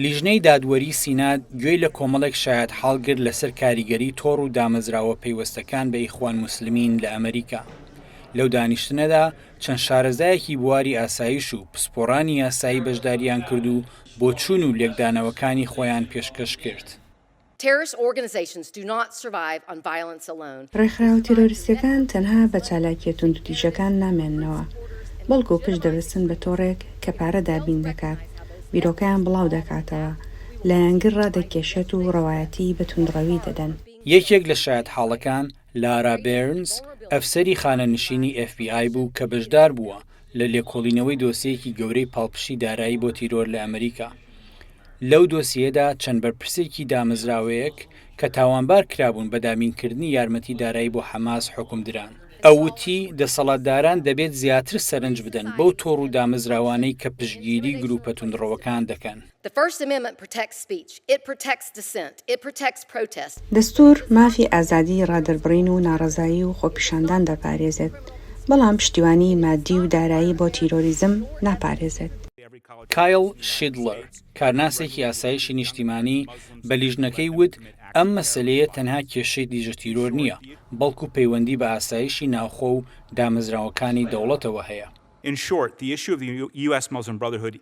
لیژنەی دادوەری سینا گوێی لە کۆمەڵێک شایەتحاڵ گرت لەسەر کاریگەری تۆڕ و دامەزراوە پەیوەستەکان بە ئیخوان موسلمین لە ئەمریکا. لەو دانیشتنەدا چەند شارەزایەکی بواری ئاسایش و پسپۆڕانی یاسایی بەشدارییان کرد و بۆچوون و لێکدانەوەکانی خۆیان پێشکەش کرد. Terrorist organizations do not survive on violence alone. ڕێکخراوە تیرۆریستییەکان تەنها بە چالاکییە توندوتیژەکان نامێننەوە، بەڵکو پشت دەبەستن بە تۆڕێک کە پارە دابین دەکات، بیرۆکەیان بڵاو دەکاتەوە، لایەنگر ڕادەکێشێت و ڕەوایەتیی بە توندڕەوی دەدەن. یەکێک لە شایەتحاڵەکان لارا بێرنز، ئەفسەری خانەنشینی ئێف بی ئای بوو کە بەشدار بووە لە لێکۆڵینەوەی دۆسیەیەکی گەورەی پاڵپشتی دارایی بۆ تیرۆر لە ئەمریکا. لەو دۆسیەدا چەند بەرپرسێکی دامەزراوەیەک کە تاوانبار کرابوون بە دابینکردنی یارمەتی دارایی بۆ حەماس حوکم دران. ئەو وتی، دەسەڵاتداران دەبێت زیاتر سەرنج بدەن بەو تۆڕ و دامەزراوانەی کە پشتگیری گرووپە توندڕەوەکان دەکەن. دەستوور مافی ئازادیی ڕادەربڕین و ناڕەزایی و خۆپیشاندان دەپارێزێت، بەڵام پشتیوانیی ماددی و دارایی بۆ تیرۆریزم ناپارێزێت. کایڵ شیدڵەر، کارناسێکی ئاسایشی نیشتیمانی بە لیژنەکەی وت ئەم مەسەلەیە تەنها کێشەی دژە تیرۆر نییە، بەڵکو پەیوەندی بە ئاسایشی ناوخۆ و دامەزراوەکانی دەوڵەتەوە هەیە.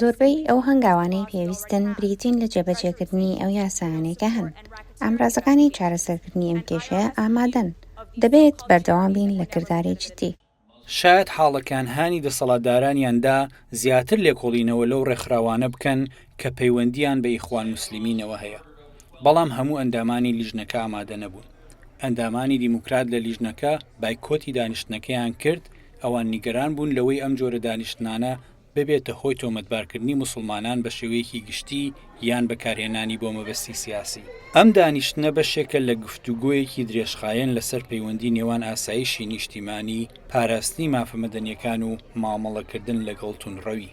زۆربەی ئەو هەنگاوانەی پێویستن بریتین لە جێبەجێکردنی ئەو یاسایانەی کە هەن. ئامرازەکانی چارەسەرکردنی ئەم کێشەیە ئامادەن. دەبێت بەردەوام بین لە کرداری جددی. شایەد حاڵەکان هانی دەسەڵاتدارانیان دا زیاتر لێکۆڵینەوە لەو ڕێکخراوانە بکەن کە پەیوەندییان بە ئیخوان موسلیمینەوە هەیە، بەڵام هەموو ئەندامانی لیژنەکە ئامادە نەبوون. ئەندامانی دیموکرات لە لیژنەکە بایکۆتی دانیشتنەکەیان کرد، ئەوان نیگەران بوون لەوەی ئەم جۆرە دانیشتنانە ببێتە هۆی تۆمەتبارکردنی موسڵمانان بە شێوەیەکی گشتی یان بەکارهێنانی بۆ مەبەستی سیاسی. ئەم دانیشتنە بەشێکە لە گفتوگۆیەکی درێژخایەن لەسەر پەیوەندی نێوان ئاسایشی نیشتیمانی، پاراستنی مافە مەدەنیەکان و مامەڵەکردن لەگەڵ توندڕەوی.